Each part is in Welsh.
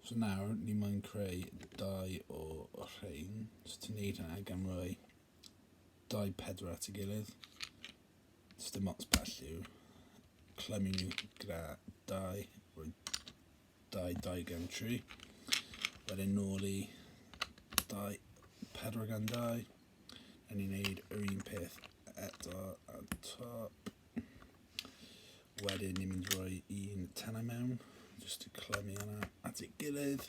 So nawr ni moyn creu dau o rhain. So ti'n neud hynna gan roi dau pedwar at ei gilydd. Os dim ots pa lliw, clymu nhw gyda dau, roi dau dau gan tri. Wedyn nôl i dau, pedwar gan dau. A ni'n neud yr un peth eto ar y top. Wedyn ni'n mynd roi un tenau mewn, jyst i clymu yna at ei gilydd.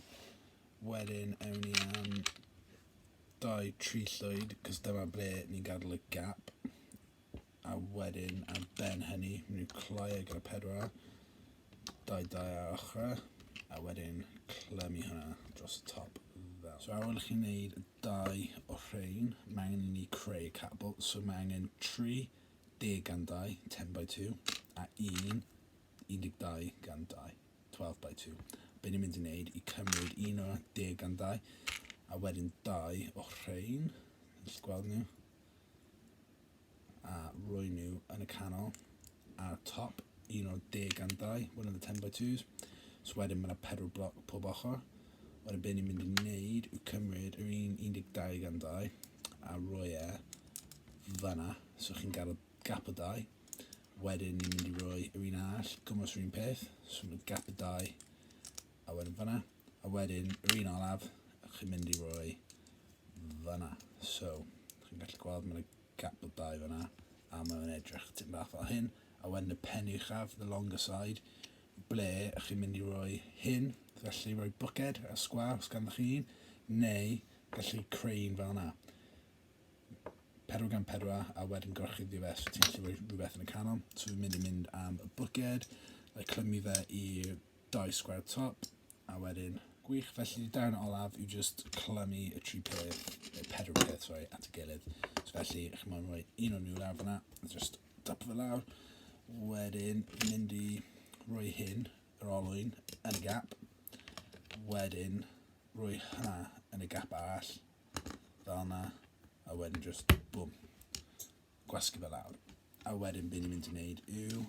Wedyn ewn ni am dau tri llwyd, cos dyma ble ni'n gadael y gap. a wedyn ar ben hynny, mynd i'r cloi ar gyda pedwar, dau dau ar ochrau, a wedyn clymu hwnna dros y top fel. So ar ôl i chi wneud dau o rhain, mae angen i ni creu y catapult, so mae angen 30 gan 2, 10 by 2, a 1, 12 gan 2, 12 by 2. Be ni'n mynd i wneud i cymryd un o'r 10 gan 2, a wedyn dau o rhain, wrth gweld nhw, A roi nhw yn y canol ar y top, un o'r deg gandau, one of the 10 by 2s. So wedyn mae yna pedwar bloc pob ochr. Wedyn be ni'n mynd i wneud yw cymryd yr un 12 gandau a roi e fanna. So chi'n gael y gap o dau. Wedyn ni'n mynd i roi yr un arall, gymwys yr un peth. So mae gap o dau a wedyn fanna. A wedyn, yr un olaf, chi'n mynd i roi fanna. So, chi'n gallu gweld mae'n gap o dau fanna, a mae'n edrych tyn bach fel hyn. A wedyn y pen uchaf, the longer side, ble chi'n mynd i roi hyn, felly roi bwced a sgwar os ganddo chi un, neu gallu creu un fel yna. 4 gan 4 a wedyn gorchuddio fe so ti'n gallu rhoi rhywbeth yn y canol. So fi'n mynd i mynd am y bwced, a clymu fe i'r dau sgwar top a wedyn gwych felly darn olaf yw just clymu y tri peth y pedwar peth sori at y gilydd so felly chi'n mynd rhoi un o'n nhw lawr fyna just dop fe lawr wedyn mynd i rhoi hyn yr olwyn yn y gap wedyn rhoi hynna yn y gap arall fel yna a wedyn just boom gwasgu fe lawr. A wedyn be ni'n mynd i wneud yw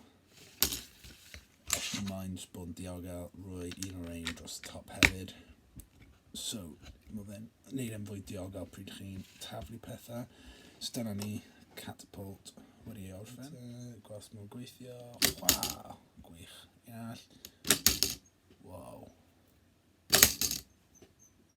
os ti'n mind bod yn diogel, rwy un o'r ein dros y top hefyd. So, mae fe'n neud e'n fwy diogel pryd chi'n taflu pethau. So dyna ni, catapult wedi ei orffen. Gwelwch nhw'n gweithio. Waw, gwych. Iall. Wow.